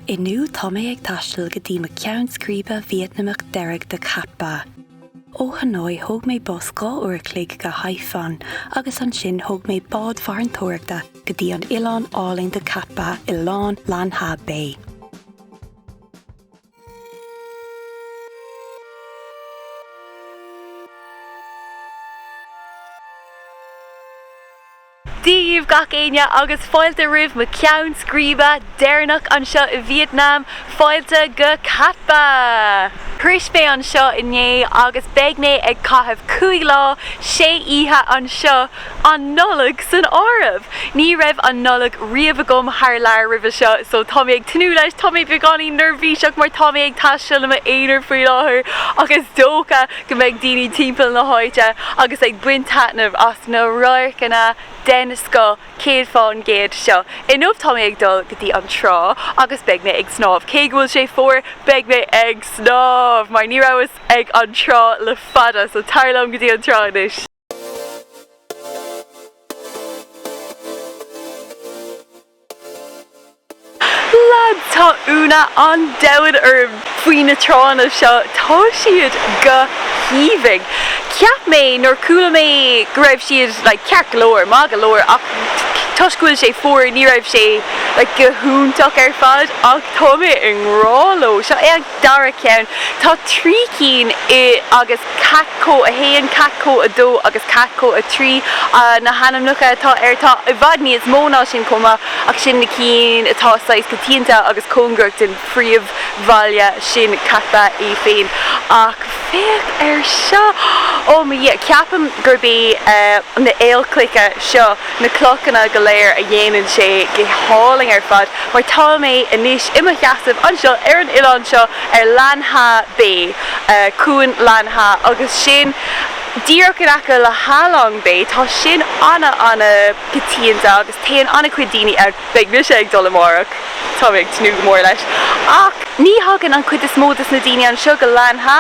Inniu tá mé ag taisteal go dtí mo ceann scríbe Vítneamach deiridh de Cat Ba. Ó Hanoi thóg mé bus dhá uair a chloig go Hai Phong agus ansin thóg mé bád farantóireachta go dtí an oileán álainn de Cat Ba i lár Lan Ha Bay. Dia dhaoibh gach éinne agus fáilte roimh mo ceann scríbe deireanach anseo i Vítneam, fáilte go Cat Ba! Shrois mé anseo inné agus beidh mé ag caitheamh cúig lá, sé oíche anseo, an Nollaig san áireamh! Ní raibh an Nollaig riamh agam thar lear roimhe seo so tá mé ag tnúth leis, tá mé beagáinín neirbhíseach mar tá mé ag taisteal i m'aonar faoi láthair ach is dócha go mbeidh daoine timpeall na háite agus ag baint taitneamh as na radharcanna den scoth 100% seo. Inniu tá mé ag dul go dtí an trá agus beidh mé ag snámh. Cé go bhfuil sé fuar, beidh mé ag snámh! Mar ní rabhas ag an trá le fada so tar liom go dtí an trá anois! Lads, tá ionadh an domhain orm faoi na tránna seo, tá siad go haoibhinn. Cheap mé nuair chuala mé go raibh siad like ceart go leor, maith go leor ach toisc go bhfuil sé fuar ní raibh sé like go hiontach ar fad ach tá mé i ngrá leo. Seo é an. Dara ceann, tá trí cinn ann agus cat co 1, cat co 2 agus cat co 3 na hainmneacha atá air. Tá i bhfad níos mó ná sin chomh maith ach sin na cinn atá saghas coitianta agus cóngarach don phríomhbhaile sin Cat Ba é féin. Ach féach ar seo! Ó mo Dhia, ceapaim gurb é na haolchloiche seo. na clochanna go léir a dhéanann sé go hálainn ar fad mar tá mé anois i mo sheasamh anseo ar an oileán seo ar Lan Ha Bay, cuan Lan Ha agus sin díreach in aice le Halong Bay tá sin ana ana coitianta agus téann ana chuid daoine ann. Beidh mise ag dul amáireach, tá mé ag tnúth go mór leis ach ní thagann an chuid is mó dos na daoine anseo go Lan Ha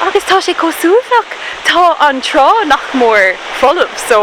agus tá sé chomh suaimhneach, tá an trá nach mór folamh so.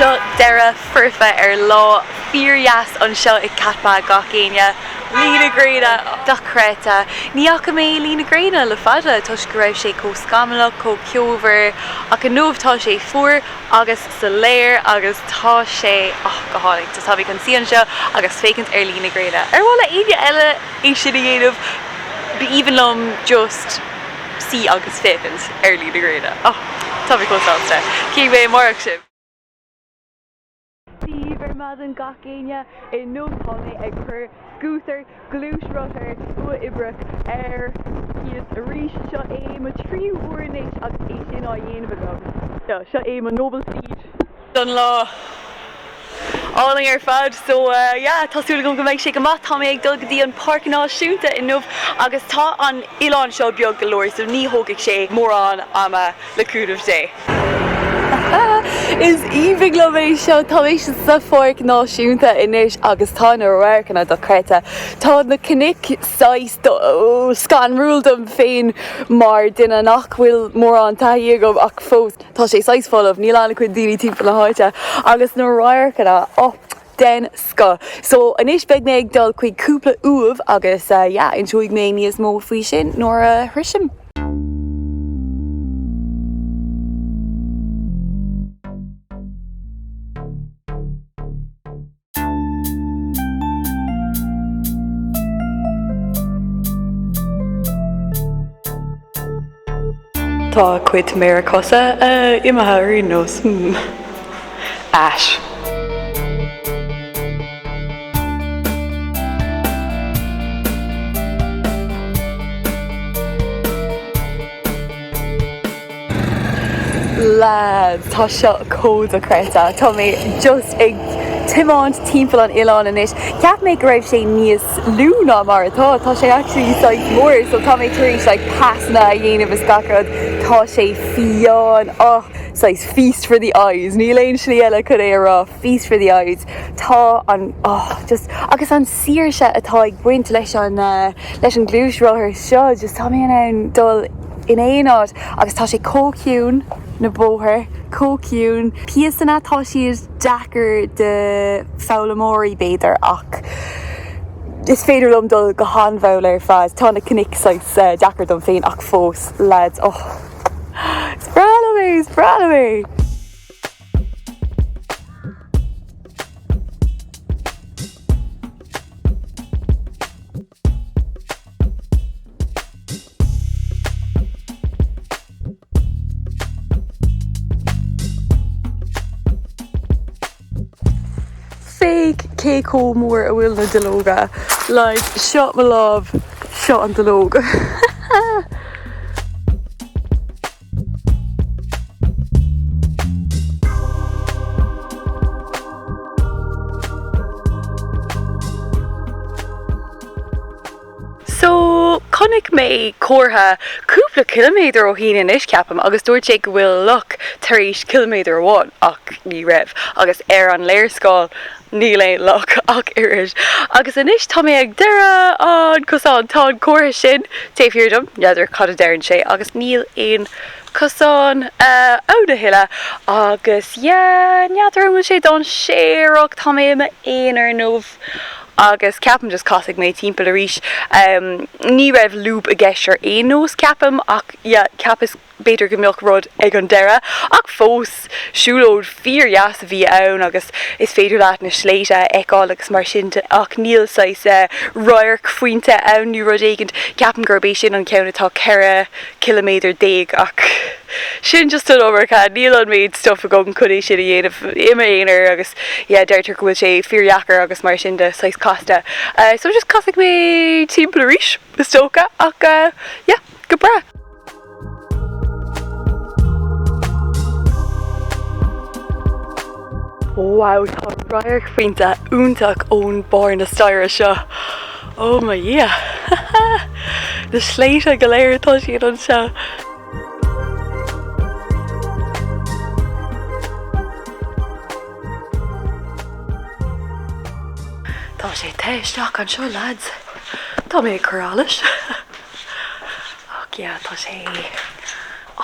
Seo deireadh foirfe ar lá fíor-dheas anseo i Cat Ba gach éinne. Luí na gréine! Dochreidte! Ní fhaca mé luí na gréine le fada toisc go raibh sé chomh scamallach, chomh ceomhar ach inniu tá sé fuar agus soiléir agus tá sé, oh, go hálainn. Just tá mé chun suí anseo agus féachaint ar luí na gréine. Ar mhaith le éinne eile é sin a dhéanamh? B'aoibhinn liom just. sí agus féachaint ar Líne na Gréine. Oh, tá mé chomh sásta. Cífidh mé amárach sibh! Dia daoibh ar maidin gach éinne! Inniu tá mé ag cur scútar, gluaisrothar, uathoibreach ar cíos arís. Seo é mo tríú uair anois agus é sin á dhéanamh agam. Seo é mo noble steed. don lá. Álainn ar fad. So yeah, tá súil agam go mbeidh sé go maith. Tá mé ag dul go dtí an Páirc Náisiúnta inniu agus tá an oileán seo beag go leor so ní thógfaidh sé mórán ama le cúnamh Dé. Is aoibhinn liom é seo. Tá mé sa Pháirc Náisiúnta anois agus tá na radharcanna dochreidte. Tá na cnoic saghas scanrúil dom féin mar duine nach bhfuil mórán taithí agam ach fós. Tá sé saghas folamh, níl an-chuid daoine timpeall na háite agus na radharcanna, oh, den scoth. So, anois beidh mé ag dul chuig cúpla uaimh agus, yeah, inseoidh mé níos mó faoi sin nuair a shroisim. Tá cuid méara cosa imithe ar aon nós. Ais. Lads, tá seo chomh dochreidte. Tá mé just ag tiomáint timpeall an oileáin anois. Cheap mé go raibh sé níos lú ná mar atá. Tá sé actually saghas mór. So tá mé tar éis like pasanna a dhéanamh is gach rud. Tá sé fiáin. Oh, saghas feast for the eyes. Níl aon slí eile chun é a rá. Feast for the eyes. Tá an, oh, just, agus an saoirse atá ag baint leis an, uh, leis an gluaisrothar seo. Just tá mé in ann dul. in aon áit agus tá sé chomh ciúin, na bóthair chomh ciúin, píosanna, tá siad deacair do foghlaimeoirí b'fhéidir ach is féidir liom dul go han-mhall ar fad, tá na cnoic saghas deacair dom féin ach fós, leaids, oh is breá liom é, is breá liom é. Féach cé chomh mór a bhfuil na duilleoga. Like, seo mo lámh, seo an duilleog. So, chonaic mé comhartha cúpla ciliméadar ó shín anois, ceapaim, agus dúirt sé go bhfuil loch tar éis ciliméadar amháin, ach ní raibh, agus ar an léarscáil Níl aon loch ach oiread. Agus anois tá mé ag deireadh an chosáin. Tá an comhartha sin taobh thiar díom, n'fheadar cad a deireann sé, agus níl aon chosán ann a thuilleadh. Agus yeah, n'fheadar an bhfuil sé dainséarach, tá mé i m'aonar nó. Agus ceapaim just casfaidh mé timpeall arís. Ní raibh lúb i gceist ar aon nós ceapaim ach yeah, cheapas. B'fhéidir go mbeadh rud ag an deireadh ach fós siúlóid fíor dheas a bhí ann agus is féidir leat na sléite a fheiceáil agus mar sin ach níl saghas viewpoint ann nó rud éigint. Ceapaim gurb é sin an ceann atá 14 ciliméadar ach sin just an iomarca, níl an méid stuff agam chun é sin a dhéanamh i m'aonar agus yeah deirtear go bhfuil sé fíor dheacair agus mar sin de saghas casta so just casfaidh mé timpeall arís is dócha ach yeah. Go breá! Wow tá viewpoint iontach ó bharr na staighre seo. Oh my dhia! Na sléite go léir atá siad anseo. Tá sé te isteach anseo lads. Tá mé ag cur allais. Ach yeah, tá sé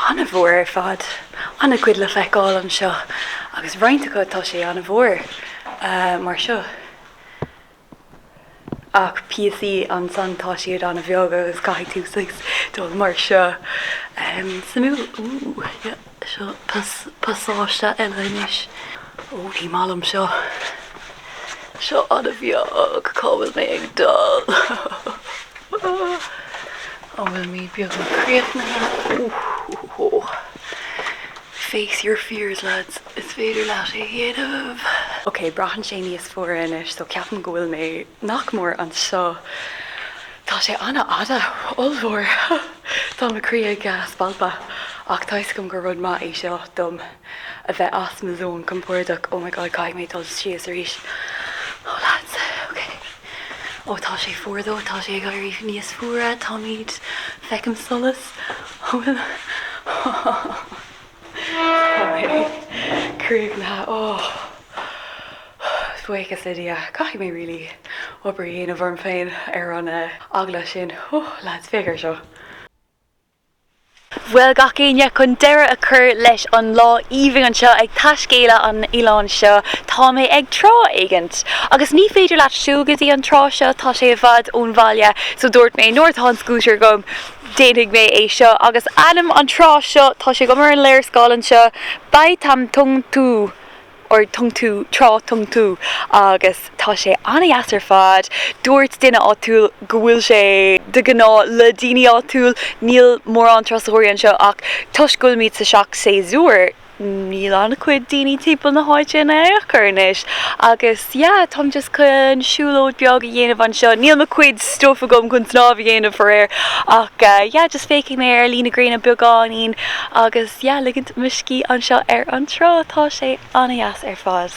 an-mhór ar fad. An-chuid le feiceáil anseo agus roinnt acu tá sé an-mhór, mar seo. Ach píosaí ansan tá siad an-bheag agus caithfidh tú dul mar seo. Suimiúil. Ooh yeah. Seo pasáiste eile anois. Ó, ní maith liom seo. Seo an-bheag, cá bhfuil mé ag dul? An bhfuil mé beagnach críochnaithe? Face your fears lads, is féidir leat é a dhéanamh! Ok, braitheann sé níos fuaire anois so ceapaim go bhfuil mé nach mór anseo. Tá sé an-fhada, ollmhór. Tá mo chroí ag spalpadh ach tá 'fhios agam gur rud maith é seo dom a bheith as mo zón compordach. Oh my God, caithfidh mé dul síos arís. Oh lads, ok. Oh tá sé fuar though, tá sé ag éirí níos fuaire, táimid, feicim solas. An bhfuil? Táim críochnaithe. Is buíochas le Dia, caithfidh mé really obair a dhéanamh orm féin ar an eagla sin. Lads, féach ar seo! Bhuel gach éinne, chun deireadh a chur leis an lá aoibhinn seo ag taiscéaladh an oileán seo, tá mé ag trá éigint. Agus ní féidir leat siúl go dtí an trá seo, tá sé i bhfad ón bhaile, so dúirt mé nuair atá an scútar agam, Déanfaidh mé é seo agus ainm an trá seo, tá sé agam ar an léarscáil anseo, Bai Tam Tung Tu nó Tung Tu, Trá Tung Tu, agus tá sé an-deas ar fad. Dúirt duine áitiúil go bhfuil sé de ghnáth le daoine áitiúil, níl mórán turasóirí anseo ach toisc go bhfuilimid sa seach-shéasúr, níl an-chuid daoine timpeall na háite in aon chor anois agus yeah, táim just chun siúlóid beag a dhéanamh anseo. Níl mo chuid stuff agam chun snámh a dhéanamh, faraor, ach yeah, just féachfaidh mé ar luí na gréine beagáinín agus yeah, ligint mo scíth anseo ar an trá. Tá sé an-deas ar fad.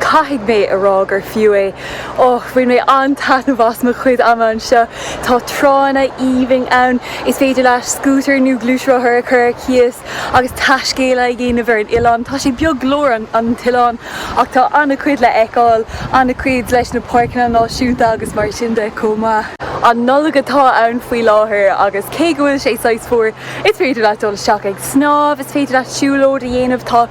Caithfidh mé a rá gur fiú é. Ó, bhain mé an-taitneamh as mo chuid ama anseo. Tá tránna aoibhinn ann, is féidir leat scútar nó gluaisrothar a chur ar cíos agus taiscéaladh a dhéanamh ar an oileán. Tá sé beag go leor, an t-oileán, ach tá an-chuid le fheiceáil, an-chuid leis na páirceanna náisiúnta agus mar sin de chomh maith. An Nollaig atá ann faoi láthair agus cé go bhfuil sé saghas fuar, is féidir leat dul isteach ag snámh, is féidir leat siúlóid a dhéanamh, tá.